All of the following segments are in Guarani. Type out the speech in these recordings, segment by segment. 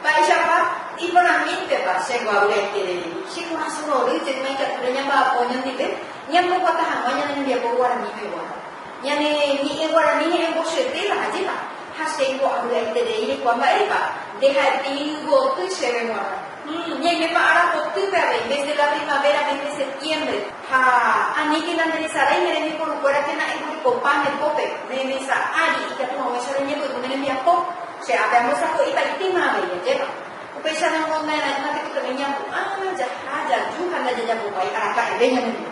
Mba'éichapa iporãmíntepa che mbo'avy'aiterei che korasõ rorýpe ma'ikatúre ñamba'apo ñandive ñamboguata hag̃ua ñane hembiapo guarani pegua? Ñane ñe'ẽ guarani he'ẽmbosyetýva hajépa, ha che ipo'avy'aiterei reikuaa mba'épa nde ha'ete yvygoty chéve g̃uarã. Hum, ñaimépa ára potýpe avei, ménte la primavera, ménte septiembre. Ha aníke la nderesarái ne rembiporukuéra térã embohekopa ne pópe, ne mesa ári, ikatu haguéicha reñepyrũ ne rembiapo. Che ápe ambosako'ipaitéma avei ajépa. Upéicharamo nde añañáke pytami ñapu'ã, jaha, jaju ha ndajajapópai araka'eve ñande.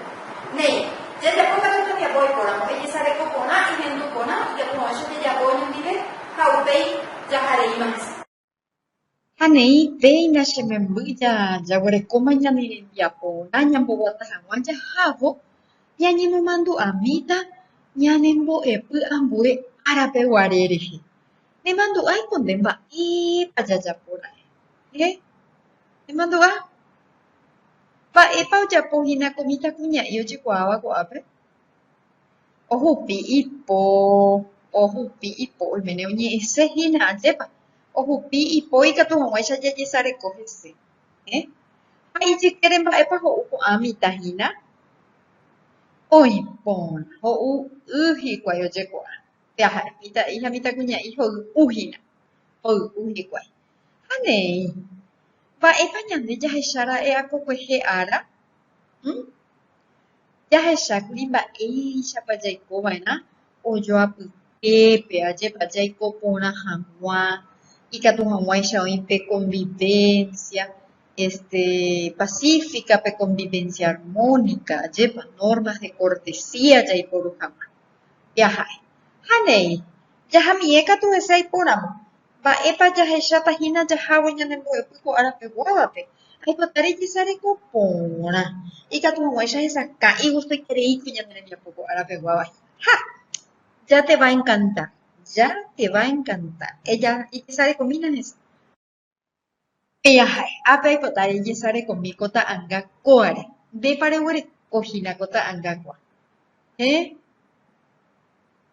Néi, jajapo katu tembiapo oikóramo, ejesareko porã, ehendu porã, ijapu'ãicha jajapo oñondive ha upéi jaha reíma hese. Ha néi, péina che memby, jaguerekóma ñane rembiaporã ñamboguata hag̃ua jahávo ñañemomandu'amíta ñanembo'epy ambue árape guare rehe. Nemandu'ái ko nde mba'épa jajapo ra'e. Héẽ? Nemandu'a? Mba'épa ojapo hína ko mitãkuña'i ojekuaáva ko'ápe? Ohupi ipo, ohupi ipo oiméne oñe'ẽse hína ajépa. Ohupi ipo ikatu hag̃uáicha jajesareko hese. Ha ijykére mba'épa ho'u ko'ã mitã hína? Oĩ porã, ho'u y hikuái ojekuaa. Peaha'e, mitã'i ha mitãkuña'i hoy'u hína, hoy'u hikuái. Ha neẽ, mba'épa ñande jahechara'e apokuehe ára? Hm. Jahechákuri mba'éichapa jaikova'erã ojo apytépe, ajépa jaiko porã hag̃ua, ikatu hag̃uáicha oĩ pe konvivénsia este... pasífika, pe konvivénsia armónika, ajépa nórmas de kortesía jaiporu hag̃ua jaha'e. Ha neẽ, jahamiẽ katu hese aipóramo. Mba'épa jahecháta hína jahávo ñane mbo'epy ko ára peguávape? Aipota rejesareko porã. Ikatu hag̃uáicha hesakãi gustoitereíkuri ñane rembiapo ko ára peguáva hína. Ha! Ya te va a encantar. Ya te va a encantar. Eja, ejesarekomína hese. Pejahái. Ápe aipota rejesarekomi ko ta'anga kóare. Ndépa reguereko hína ko ta'anga kóa. Héẽ.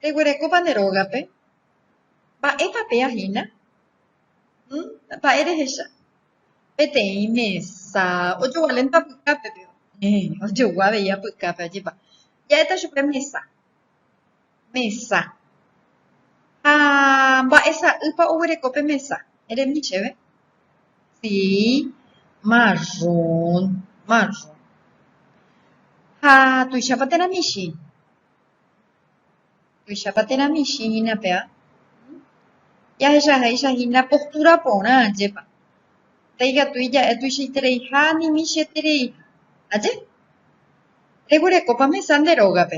Reguerekópa ne rógape? Mba'épa péa hína? Hm, mba'e rehecha? Peteĩ mesa ojogualénta pykápe péva. Héẽ, ojogua avei apykápe, ajépa. Ja'éta chupe mesa. mesa. Ha mba'e sa'ýpa oguereko pe mesa? Eremi chéve. Si, marrón, marrón. Ha tuichápa térã michĩ? Tuichápa térã michĩ hína péva? Jahechavéicha hína postúra porã, ajépa. Ndaikatúi ja'e tuichaitereiha ani michĩetereiha. Aje? Reguerekópa mesa nde rógape?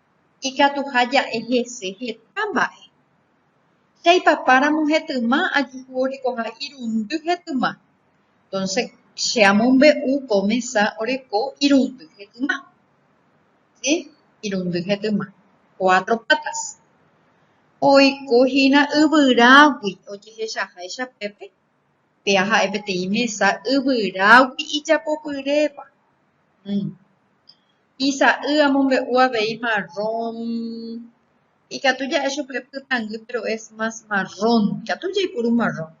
ikatuha ja'e hese heta mba'e. Che aipapáramo hetyma ajuhu orekoha irundy hetyma. Entonces, che amombe'u ko mesa oreko irundy hetyma. Si, irundy hetyma. Cuatro patas. Oiko hína yvyrágui ojehechaháicha pépe, péa ha'e peteĩ mesa yvyrágui ijapopyréva. Isa'y amombe'u avei marrón, ikatu ja'e chupe pytangý péro es más marrón, ikatu jaipuru marrón.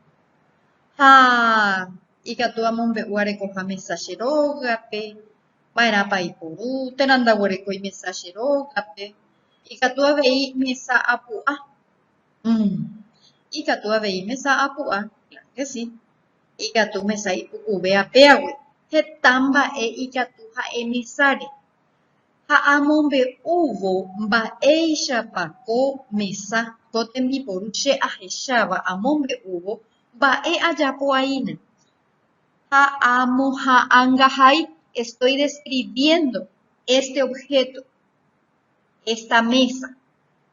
Ha ikatu amombe'u arekoha mesa che rógape, va'erãpa aipuru, térã ndaguerekói mesa che rógape, ikatu avei mesa apu'a, mm, ikatu avei mesa apu'a, kláro ke si. Ikatu mesa ipukuve apégui heta mba'e ikatu ha'e mesáre ha amombe'úvo mba'éichapa ko mesa ko tembiporu che ahecháva amombe'úvo mba'e ajapoaína ha amoha'angahai estoy describiendo este objeto, esta mesa,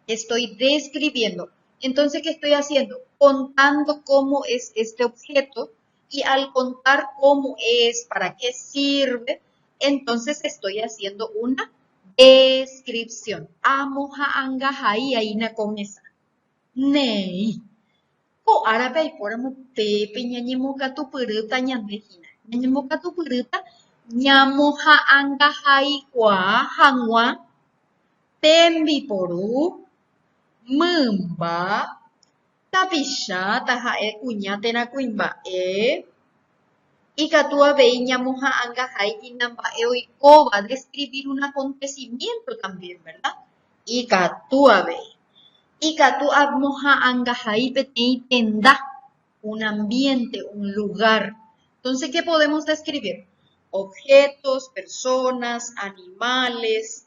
estoy describiendo, entonces ¿qué estoy haciendo? Contando cómo es este objeto y al contar cómo es, para qué sirve, entonces estoy haciendo una descripción. Amo ha'anga hai aína ko mesa. Néi. Ko árape aipóramo pépe ñañemokatupyrýta ñande hína. Ñañemokatupyrýta ñamoha'angahai kuaa hag̃ua tembiporu, mymba, tapicha taha'e kuña térã kuimba'e, ikatu avei ñamoha'angahai inamba'e oikóva, describir un acontecimiento también, verda? Ikatu avei. Ikatu amoha'angahai peteĩ tenda, un ambiente, un lugar. Entonces qué podemos describir? Objetos, personas, animales.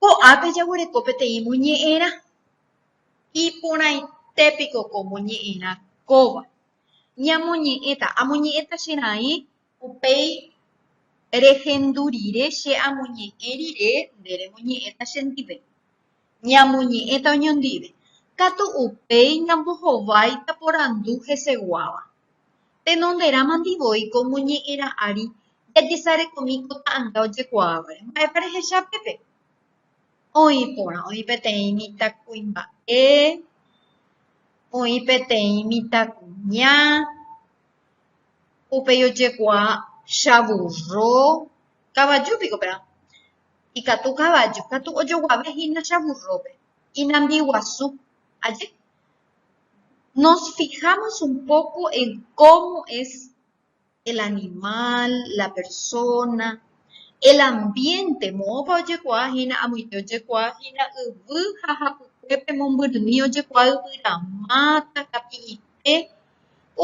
Ko'ápe jaguereko peteĩ moñe'ẽrã. Iporãite piko ko moñe'ẽrã kóva. Ñamoñe'ẽta, amoñe'ẽta che raĩ upéi rehendu rire che amoñe'ẽ rire nde remoñe'ẽta chendive. ñamoñe'ẽta oñondive, katu upéi ñambohováita porandu heseguáva. Tenonderãmandy voi ko moñe'ẽrã ári jajesarekomi ko ta'anga ojekuaávare, mba'épa rehecha pépe? Oĩ porã, oĩ peteĩ mitãkuimba'e, oĩ peteĩ mitãkuña, upéi ojekuaa chavurro, kavaju piko perã, ikatu kavaju katu ojoguave hínacha vurrópe, inambiguasu. Aje, nos fijámos un poco en cómo es el animal, la persona, el ambiente, moõpa ojekuaa hína, amoite ojekuaa hína yvy ha hapykuépe mombyrymi ojekuaa yvyrama, takapi'ípe,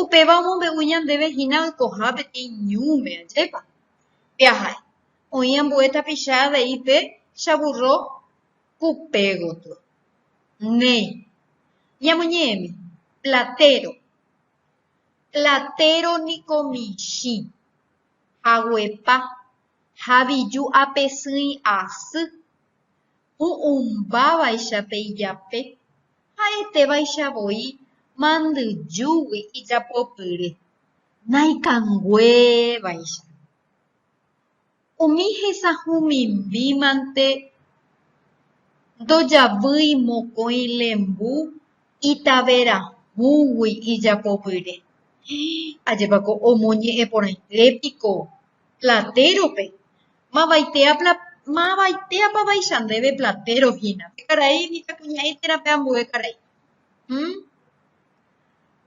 upéva omombe'u ñandéve hína oikoha peteĩ ñúme, ajépa? Pe aha'e. oĩ ambue tapicha avei pe chavurro kupe gotyo. Néi, ñamoñe'ẽmi, platéro. Platéro niko michĩ, haguepa, haviju apesỹi asy, hu'ũmbávaicha pe ijape, ha'etévaicha voi mandyjúgui ijapopyry, naikanguévaicha. Umi hesahumimímante ndojavýi mokõi lembu itaverahúgui ijapopyre. Ajépa ko omoñe'ẽporãite piko Platero-pe? Mavaitépa vaicha ndéve Platero hína, pe karai mitãkuña'ẽ térã pe ambue karai?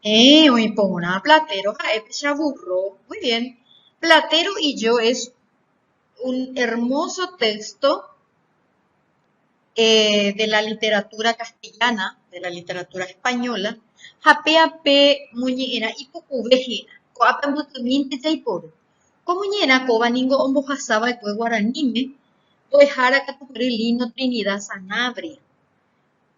Héẽ, oĩ porã platero ha'e péicha vúrro. Muy bien. Platero y yo es un hermoso téxto de la literatúra castellana, de la literatúra española, ha péape moñe'ẽrã ipukuve héra. Ko'ápe ambykymínte jaiporu. Ko moñe'ẽrã kóva ningo ombohasa va'ekue guaraníme, mbo'ehára katu gury Lino Trinidad Sanabria.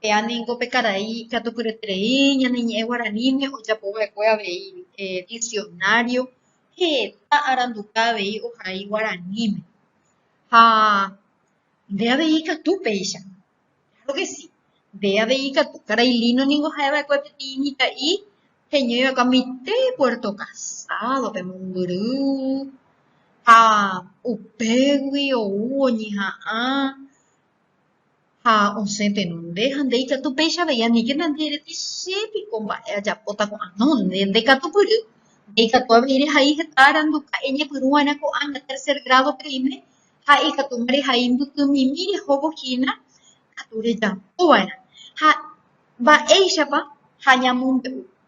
Péa ningo pe karai ikatupyreterei ñane ñe'ẽ guaraníme ojapo va'ekue avei diksionário heta aranduka avei ohai guaraníme. Ha nde avei ikatu péicha, kláro ke si, nde avei ikatu. Karai Lino ningo ha'e va'ekue peteĩ mitã'i heñói va'ekue mante Puerto Casádope mombyry ha upégui ou oñeha'ã ha osẽ tenonde ha nde ikatu péicha avei anike nandi rete che piko mba'e ajapóta ko'ã no nde nde katu kyry nde ikatu avei rehai heta aranduka'e ñepyrũ va'erã ko'ã ña tercer grado pe rime ha ikatu rehai mbyty mimi rehóvo hína katu rejapo va'erã ha mba'éichapa ha ñamombe'u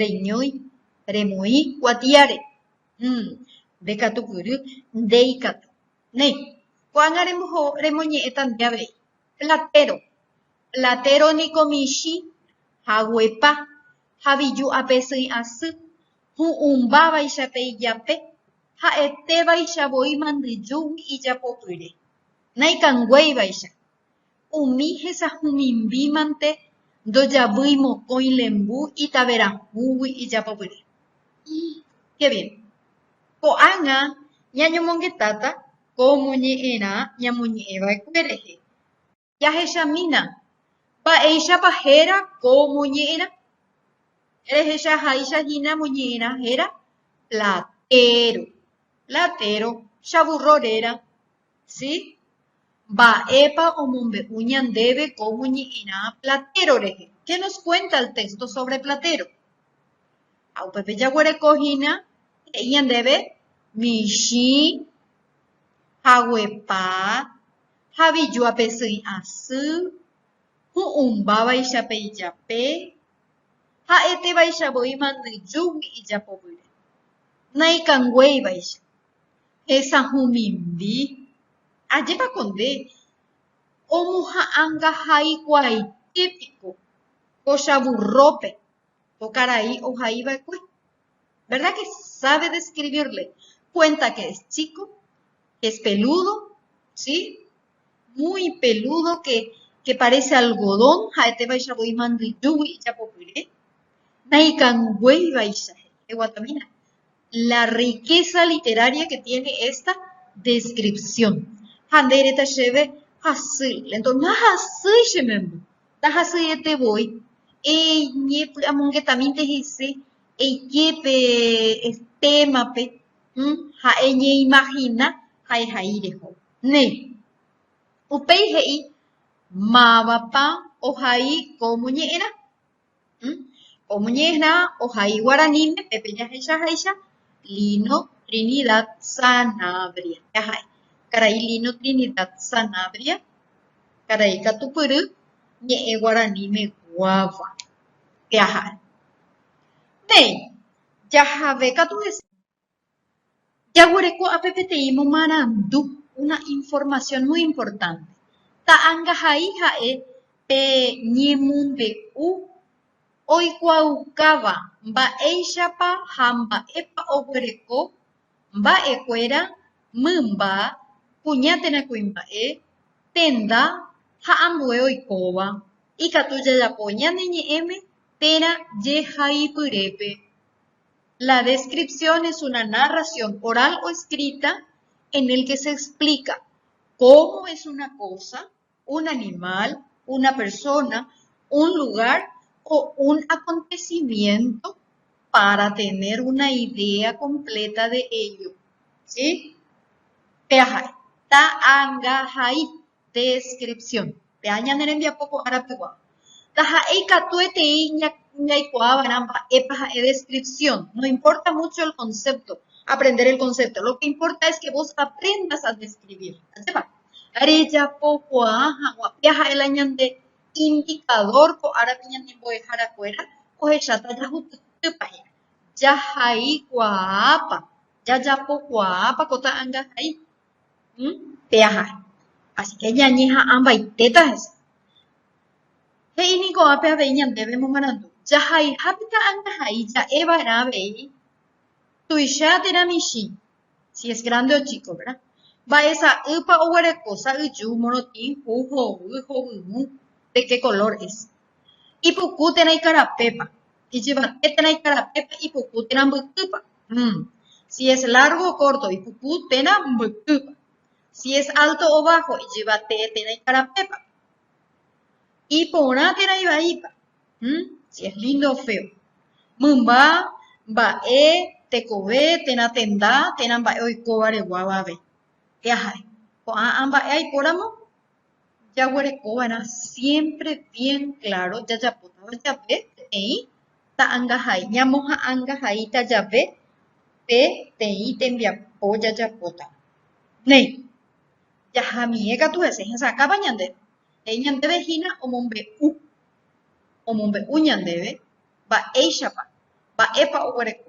reñói remoĩ kuatiáre, mm, nde katu kyry ndeikatu. Néi, ko'ág̃a remoñe'ẽta nde avei, platéro. Platéro niko michĩ, haguepa, haviju ape sỹi asy, hu'ũmbávaicha pe ijape, ha'etévaicha voi mandyjúgui ijapopyre. Naikanguéivaicha, umi hesahumimímante ndojavýi mokõi lembu itaverãhúgui ijapopyre. Ko'ág̃a ñañomongetáta ko moñe'ẽrã ñamoñe'ẽva'ekue rehe. Jahechamína mba'éichapa héra ko moñe'ẽrã. Rehechaháicha hína moñe'ẽrã héra platéro, chavurro réra, Si. Mba'épa omombe'u ñandéve ko moñe'ẽrã Platero rehe? Ke nos kuénta el téxto sóvre Platero. Ha upépe jaguereko hína he'i ñandéve michĩ, haguepa, havijo ape sỹi asy, hu'ũmba vaicha pe ijape, ha'ete vaicha voi mandyjúgui ijapovýre, naikanguéi vaicha, Hesahumimbi, ajépa ko nde omoha'angahaikuaaite piko ko chavurrópe ko karai ohai va'ekue. Verda ke sábe deskrivirle, kuénta ke es chíko, ke es pelúdo, si, muy pelúdo ke parése algodón ha'etévaichagui imandyjúgui ijapopyre, naikanguéivaicha he'i, eguatamína, la riqueza literaria que tiene esta descripción ha nde reta cheve hasy lento nahasýi che memby nahasyiete voi eñepy'amongetamínte hese eike pe témape ha eñeimagina ha'ehai reho ne upéi he'i mávapa ohai ko moñe'ẽrã Omoñe'ẽha ohai guaraníme pe pejahecha háicha Lino Trinidad Sanabria jaha'e. Karai Lino Trinidad Sanabria karai katupyry ñe'ẽ guaraníme guáva pe aha'e. Néi, jahave katu hese Jaguereko ápe peteĩ momarandu, una información muy importante. Ta'angahai ha'e pe ñemonde'u oikuaaukáva mba'éichapa ha mba'épa oguereko mba'ekuéra, mymba, kuña térã kuimba'e, tenda ha ambue oikóva. Ikatu jajapo ñane ñe'ẽme térã jehaipyrépe. La descripción es una narración oral o escrita en el que se explica cómo es una cosa, un animal, una persona, un lugar o un acontecimiento para tener una idea completa de ello. ¿Sí? Peahai. Ta'angahai. Descripción. Péa ñane rembiapo ko ára pegua. Taha'e ikatuetei ñaikuaava'erã mba'épa ha'e descripción. No importa mucho el concepto, aprender el concepto. Lo que importa es que vos aprendas a describir. Ajépa? Rejapokuaa hag̃ua. Péa ha'e la ñande indicador ko árape ñanembo'ehára kuéra ohecháta jahupytýpa hína. Jahaikuaápa, jajapokuaápa ko ta'angahai. pe aja asi ke ñañeha'ãmbaitéta hese he'i niko ápe avei ñandéve momarandu jahaiha pika añahai ja'e va'erã avei tuicha térã michĩ si es grande o chico verda mba'e sa'ýpa oguereko sa'yju morotĩ hu hovy hovyũ de ke color es ipuku térã ikarapépa Ijyvate térã ikarapépe ipuku térã mbykypa. Umm. Si es largo o corto, ipuku térã mbykýpa. Si es alto o bajo, ijyvate térã ikarapépa. Iporã térã ivaípa. Umm. Si es lindo o feo. Mymba, mba'e, tekove, térã tenda, térã mba'e oikóvare guáva avei. Pyahare. Ko'ã amba'e aipóramo, jaguereko va'erã siémpre bien kláro jajapótava jave peteĩ ta'angahai, ñamoha'angahaíta jave peteĩ tembiapo jajapótava. Néi, jahamiẽ katu hese hesakãpa ñande, he'i ñandéve hína omombe'u, omombe'u ñandéve mba'éichapa, mba'épa oguereko.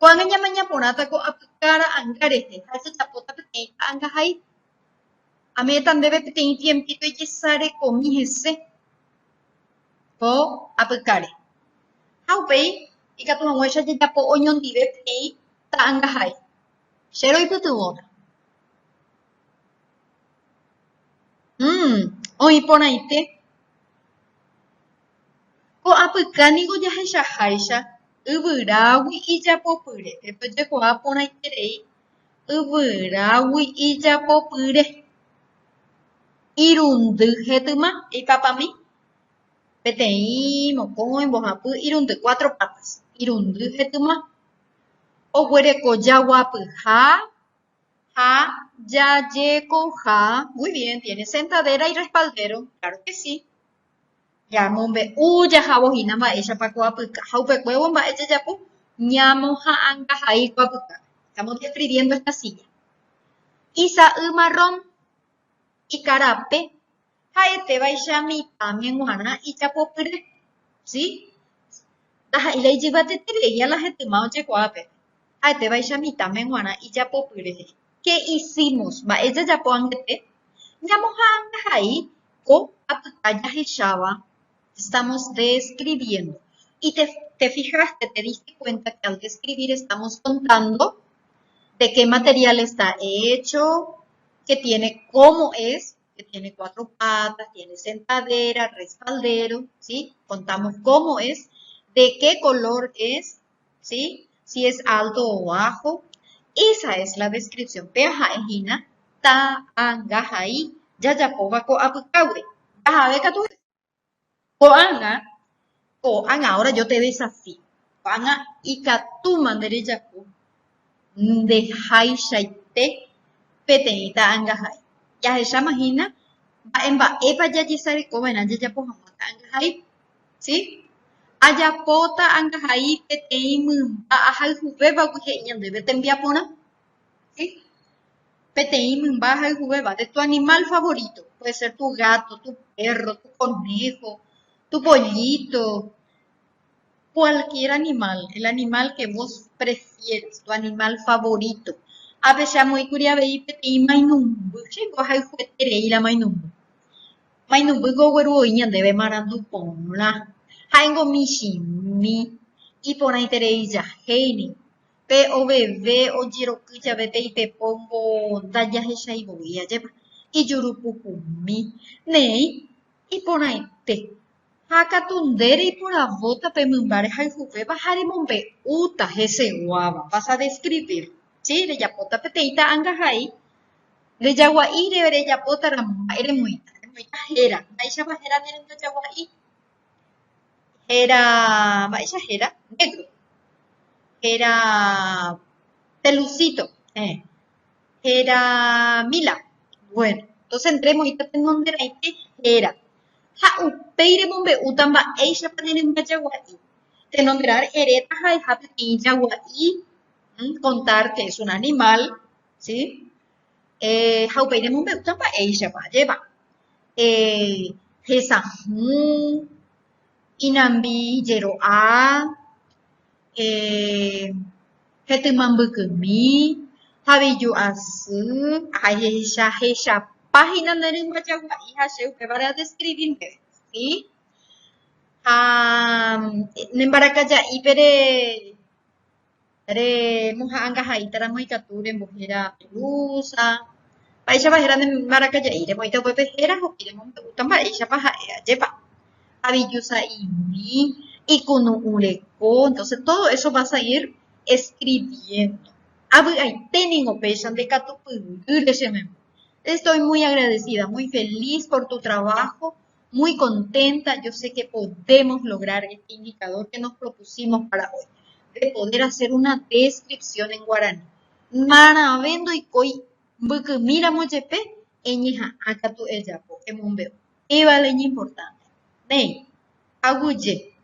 Ko'ág̃a ñamaña porãta ko apyka ra'anga rehe ha ejejapóta peteĩ ta'angahai. Ame'ẽta ndéve peteĩ tiempíto ejesarekomi hese ko apykáre ha upéi ikatu hag̃uáicha jajapo oñondive peteĩ ta'angahai. Che roipytyvõta. Mmmm oĩ porãite. Ko apyka niko jahechaháicha Yvyrágui ijapopyre. Epe ojekuaa porãiterei yvyrágui ijapopyre. Irundy hetyma. Eipapami. Peteĩ, mokõi, mbohapy, irundy, cuatro patas. Irundy hetyma. Oguereko jaguapyha. ha jajekoha muy bien tiene sentadera y respaldero claro que si ñamombe'u jahávo hína mba'éichapa ko apyka ha upekuévo mba'e jajapo ñamoha'anga hai ko apyka estamos describiendo esta silla isa'y marrón ikarape ha'etévaicha mitãme g̃uarã ijapopyre, si, ndaha'éi ijyvateterei ala hetyma ojekuaápe, ha'etévaicha mitãme g̃uarã ijapopyre he'i, Qué hicimos? Mba'e jajapo angete? Ñamoha'angahai ko apyta jahecháva, estamos describiendo, y te fijaste, te diste cuenta que al describir estamos contando de qué material está hecho, qué tiene, cómo es, que tiene cuatro patas, tiene sentadera, respaldero, ¿sí? Contamos cómo es, de qué color es, ¿sí? Si es alto o bajo. Esa es la descripción. Pea ha'e hína, ta, anga, ha'i, jajapo va'ekue apykágui. Jahave katu Ko'ág̃a, ko'ág̃a, ahora yo te desafío, ko'ág̃a ikatúma nde rejapo nde háichaite peteĩ ta'angahai. Jahecháma hína mba'e mba'épa jajesareko va'erã jajapo hag̃ua ta'angahai, si? Ajapo ta'angahai peteĩ mymba ahayhuvégui he'i ñandéve tembiaporã, Peteĩ mymba hayhuvéva de tu animal favorito, puede ser tu gato, tu perro, tu conejo, tu pollito, cualquier animal, el animal que vos prefieras, tu animal favorito. Ha peicha amoĩ kuri avei peteĩ mainumby, he'íko hayhueterei la mainumby. Mainumby ko ogueru oĩ ñandéve marandu porã, ha'éngo michĩmi, iporãiterei jahéi ningo. pe oveve ojeroky jave pe ipepóngo ndajahechaivoi ajépa, ijurupuhumi, neĩ, iporãite, ha katu nde reiporavóta pe mymba rehayhuvéva ha remombe'úta heseguáva, vas a describir, si, rejapóta peteĩ ta'angahai, rejagua'i, rejapóta ramo mba'e remoĩta, remoĩta héra, mba'éichapa héra ne renda jagua'i. Héra... mba'éicha héra? Négro. Héra pelusíto. Héẽ. Héra míla. Bueno, entóse entrémosgo hína tenonde raite héra. Ha upéi remombe'úta mba'éichapa ne rymba jagua'i. Tenonderare eréta ha'eha peteĩ jagua'i, kontárte es un animal, si? eh ha upéi remombe'úta mba'éichapa ajépa eh hesa'ỹ, inambi jero'a, eh hetỹma mbykymi, haviju asy, ahecha hechapa hína ne rymba jagua'i ha che upévare adeskrivi ndéve, si. Ha ne mbaraka ja'ípere remoha'angaha'ỹitaramo ikatu rembohéra turusa, mba'éichapa héra ne mbarakaja'i, remoĩta upépe héra ho'i remombe'úta mba'éichapa ha'e ajépa, haviju sa'imi, ikunu'ũ reko, entonce todo eso va a salir escribiendo. Avy'aite ningo péicha nde katu pyrýre che memby. Te estoy muy agradecida, muy feliz por tu trabajo, muy contenta, yo sé que podemos lograr este indicador que nos propusimos para hoy, de poder hacer una descripción en guaraní. Marãve ndoikói mbykymíramo jepe, eñeha'ã katu ejapo, emombe'u. Péva la iñimportánte. Néi, aguyje.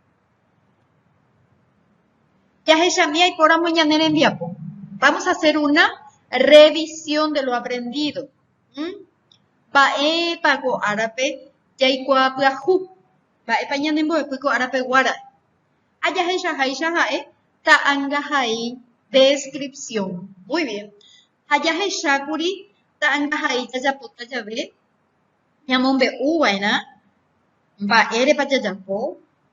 Jahechami aipóramo ñane rembiapo. Vamos a hacer una revisión de lo aprendido. Mba'épa ko árape jaikuaa pyahu? Mba'épa ñanembo'epy ko árape guára? Ajahechaháicha ha'e ta'angahai descripción. Muy bien. Ha jahechákuri ta'angahai jajapóta jave ñamombe'u va'erã mba'érepa jajapo.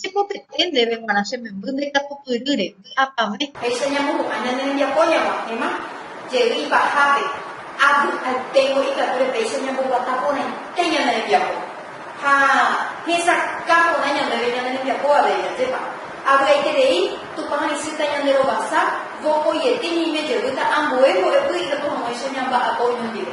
Jepopete ndéve g̃uarã che memby ndaikatupyrýre, vy'apavẽ. Péicha ñamohu'ã ñane rembiapo ñag̃uahẽma jey ipahápe, avy'aiténgo ikatúre péicha ñamboguata porãite ñane rembiapo ha hesakã porã ñandéve ñane rembiapo avei. Ajépa avy'aiterei, Tupã haisýta ñanderovasa, vokoiete ñaime jevýta ambue mbo'epy ikatu hag̃uáicha ñamba'apo oñondive.